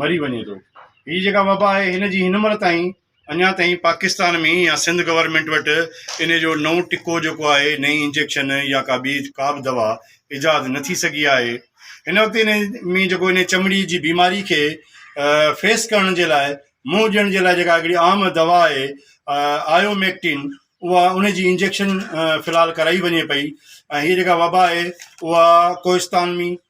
مري وڃي ٿو. هي جيڪا وبا آهي هن جي هن مهل تائين اڃا تائين پاڪستان ۾ يا سنڌ گورنمينٽ وٽ ان جو نئون ٽڪو جيڪو آهي نئين انجيڪشن يا ڪا ٻي ڪا به دوا ايجاد نه ٿي سگهي آهي. هن وقت ان ۾ جيڪو ان چمڙي جي بيماري کي فيس ڪرڻ جي لاء منهن ڏيڻ جي لاء جيڪا هڪڙي عام دوا آهي آيو ميڪٽين اها ان جي انجيڪشن في الحال ڪرائي وڃي پئي ۽ هي جيڪا وبا آهي اها ڪوهستان ۾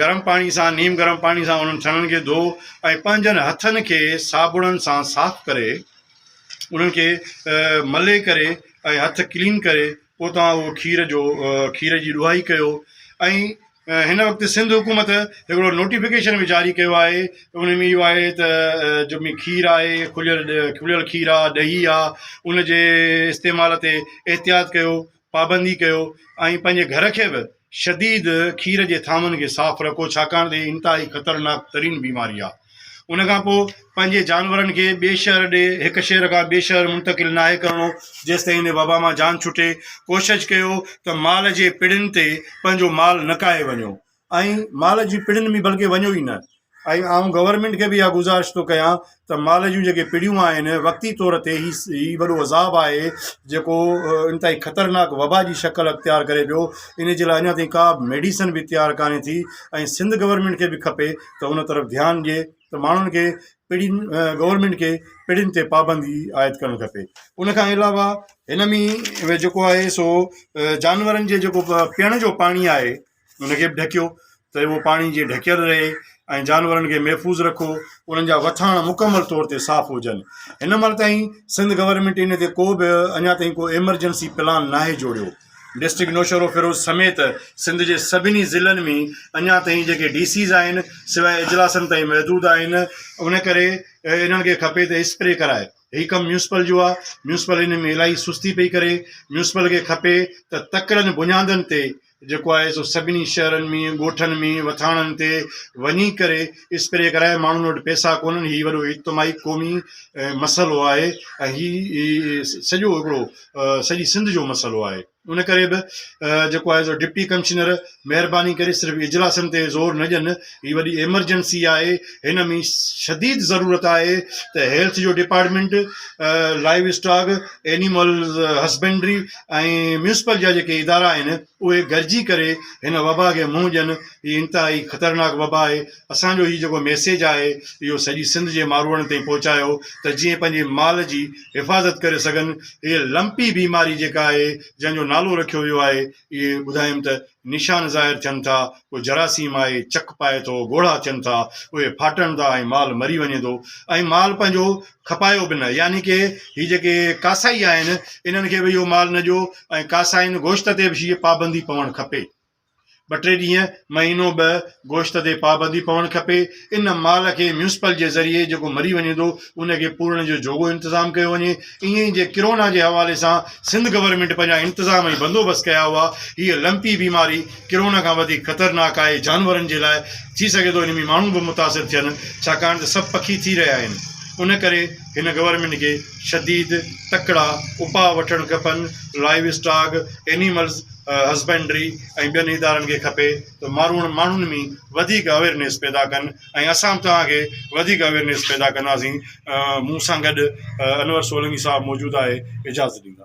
گرم پاڻي سان، نيم گرم پاڻي سان انهن ٿڻن کي ڌو ۽ پنهنجن هٿن کي صابڻن سان صاف ڪري انهن کي ملي ڪري ۽ هٿ ڪلين ڪري پوء توهان اهو کير جو کير جي ڏوهائي ڪيو ۽ هن وقت سنڌ حڪومت هڪڙو نوٽيفڪيشن به جاري ڪيو آهي ان ۾ اهو آهي ته جو مي کير آهي کليل کليل کير آهي ڏهي آهي ان جي استعمال تي احتياط ڪيو پابندي ڪيو ۽ پنهنجي گهر کي به شديد کير جي ٿانون کي صاف رکو ڇاڪاڻ ته هي انتهائي خطرناڪ ترين بيماري آهي ان کان پوء پنهنجي جانورن کي ٻئي شهر ڏي هڪ شهر کان ٻئي شهر منتقل ناهي ڪرڻو جيستائين هن وبا مان جان ڇٽي ڪوشش ڪيو ته مال جي پڙين تي پنهنجو مال نڪاهي وڃو ۽ مال جي پڙين ۾ بلڪه وڃو ئي نه ۽ آئون گورنمينٽ کي به اها گذارش ٿو ڪيان ته مال جون جيڪي پڙيون آهن وقتي طور تي هي هي وڏو عذاب آهي جيڪو انتهائي خطرناڪ وبا جي شڪل اختيار ڪري پيو ان جي لاء اڃا تائين ڪا به ميڊيسن به تيار ڪانه ٿي ۽ سنڌ گورنمينٽ کي به کپي ته ان طرف ڌيان ڏئي ته ماڻهن کي پڙين گورنمينٽ کي پڙين تي پابندي عائد ڪرڻ کپي ان کان علاوه هن ۾ جيڪو آهي سو جانورن جي جيڪو پيئڻ جو پاڻي آهي ان کي به ڍڪيو ته اهو پاڻي جي ڍڪيل رهي ۽ جانورن کي محفوظ رکو انهن جا وٿاڻ مڪمل طور تي صاف هجن هن مهل تائين سنڌ گورنمنٽ ان تي ڪو به اڃا تائين ڪو ايمرجنسي پلان ناهي جوڙيو ڊسٽرڪٽ نوشهرو فيروز سميت سنڌ جي سڀني ضلعن ۾ اڃا تائين جيڪي ڊي سيز آهن سواء اجلاسن تائين محدود آهن ان ڪري انهن کي کپي ته اسپري ڪرائي هي ڪم ميونسپل جو آ ميونسپل ان ۾ الائي سستي پئي ڪري ميونسپل کي کپي ته تڪڙن بنيادن تي جيڪو آهي سو سڀني شهرن ۾ ڳوٺن ۾ وٿاڻن تي وڃي ڪري اسپري ڪرائي ماڻهن وٽ پئسا ڪونهن هي وڏو اجتماعي قومي مسئلو آهي ۽ هي سڄو هڪڙو سڄي سنڌ جو مسئلو آهي ان ڪري به جيڪو آهي سو ڊپٽي ڪمشنر مهرباني ڪري صرف اجلاسن تي زور نه ڏين هي وڏي ايمرجنسي آهي هن ۾ شديد ضرورت آهي ته هيلٿ جو department livestock animals husbandry ۽ municipal جا جيڪي ادارا آهن اهي گڏجي ڪري هن وبا کي منهن ڏين هي انتهائي خطرناڪ وبا آهي اسان جو هي جيڪو ميسيج آهي اهو سڄي سنڌ جي ماروئڙن تائين پهچايو ته جيئن پنهنجي مال جي حفاظت ڪري سگهن هي لمپي بيماري جيڪا آهي جنهن جو نالو رکيو ويو آهي اهي ٻڌايم ته نشان ظاهر ٿين ٿا، ڪو جراثيم آهي، چڪ پائي ٿو، ڳوڙها ٿين ٿا، اهي ڦاٽن ٿا ۽ مال مري وڃي ٿو ۽ مال پنهنجو کپايو به نه يعني ڪي هي جيڪي ڪاسائي آهن انهن کي به اهو مال نه ڏيو ۽ ڪاسائين گوشت تي به شيء پابندي پوڻ کپي ٻه ٽي ڏينهن مهينو ٻه گوشت تي پابندي پوڻ کپي. ان مال کي ميونسپل جي ذريعي جيڪو مري وڃي ٿو ان کي پورڻ جو جوڳو انتظام ڪيو وڃي ائين ئي جي ڪرونا جي حوالي سان سنڌ گورنمينٽ پنهنجا انتظام ۽ بندوبست ڪيا هئا هيء لمپي بيماري ڪرونا کان وڌيڪ خطرناڪ آهي جانورن جي لاء ٿي سگهي ٿو ان ۾ ماڻهو به متاثر ٿين ڇاڪاڻ ته سڀ پکي ٿي رهيا آهن ان ڪري هن گورنمينٽ کي شديد تڪڙا اپاء وٺڻ کپن لائيو اسٽاڪ اينيملز هسبنڊري ۽ ٻين ادارن کي کپي ته ماروئڙ ماڻهن ۾ وڌيڪ اويرنيس پيدا ڪن ۽ اسان به توهان کي وڌيڪ اويرنيس پيدا ڪنداسين مون سان گڏ انور سولنگي صاحب موجود آهي اجازت ڏيندا